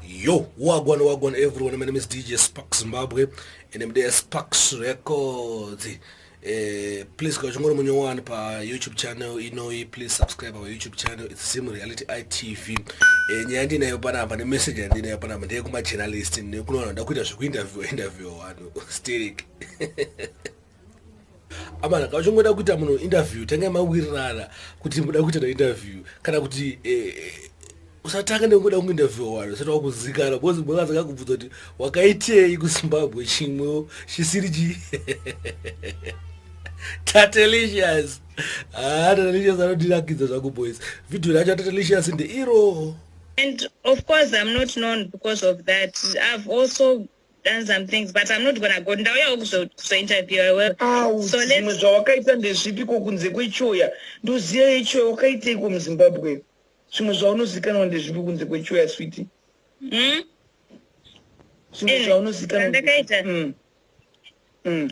Yo, wagwan wagwan everyone. My name is DJ Sparks Zimbabwe and I'm there Sparks Records. Uh, please go chingoro munyo one pa YouTube channel inoyi please subscribe our YouTube channel it's Zim Reality ITV. Eh nyaya ndinayo panapa ne message yandinayo panapa ndeye kuma journalist nekunoona ndakuita zvekuinterview interview wanu. Sterek. amana ka uchingoda kuita munhu interview tange mawirirana kuti muda kuita neinterview kana kuti eh, eh, usatanga nekungoda kuinterview wani usati wakuzikana because mwe vazaka kubvudza kuti wakaitei kuzimbabwe chimwewo chisiri chi tatelicious haa ah, tatelicious anodirakidza zvangu boys video racho tatelicious ndeiro and of course i'm not known because of that i've also done some things but i'm not gonna go ndauyawo kuzointerviewa zvimwe zvawakaita ndezvipi ko kunze kwechoya ndoziya yechoya wakaiteiko muzimbabwe zvimwe zvaunozikanwa ndezvipi kunze kwechoya switi hmm? zvimwe eh, zvaunozikanwandakaita hmm. hmm.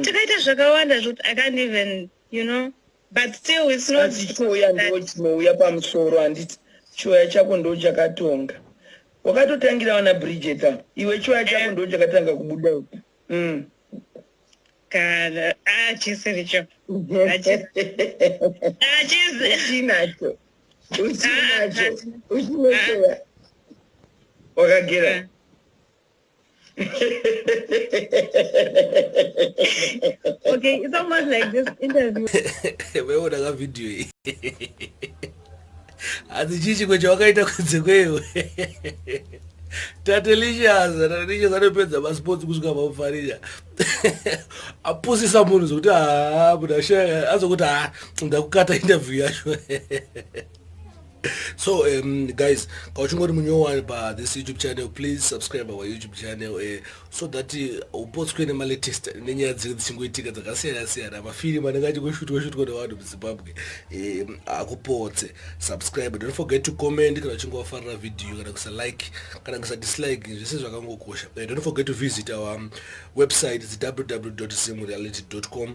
takaita zvakawanda zvekuti i can't even you know but still it's not chiuya ndo chinouya pamusoro handiti chiuya chako ndo chakatonga wakatotangira wana bridget a iwe chiuya chako eh. ndo chakatanga kubuda mm. kana achisiricho ah, achizinacho ah, uchinacho ah, uchinochoya wakagera okay, it's almost like this interview. Wewe ka video hii. Azichichi kwecha wakaita kunze kwewe. Tatelicious, Tatelicious anopedza masports kusvika pamufarija. Apusisa munhu zvekuti haa ah, muda shaya azokuti haa ah, ndakukata interview yacho. so um, guys kauchingori munyowani pa this youtube channel please subscribe our youtube channel uh, so that eh, upotswe uh, nemalatest nenyaya dziri dzichingoitika dzakasiyana siyana mafirimu anenge achingoshutirwa shutirwa nevanhu muzimbabwe eh, akupotse subscribe don't forget to comment kana uchinge wafarira video kana kusa like kana kusa dislike zvese zvakangokosha uh, don't forget to visit our um, website its www zimreality com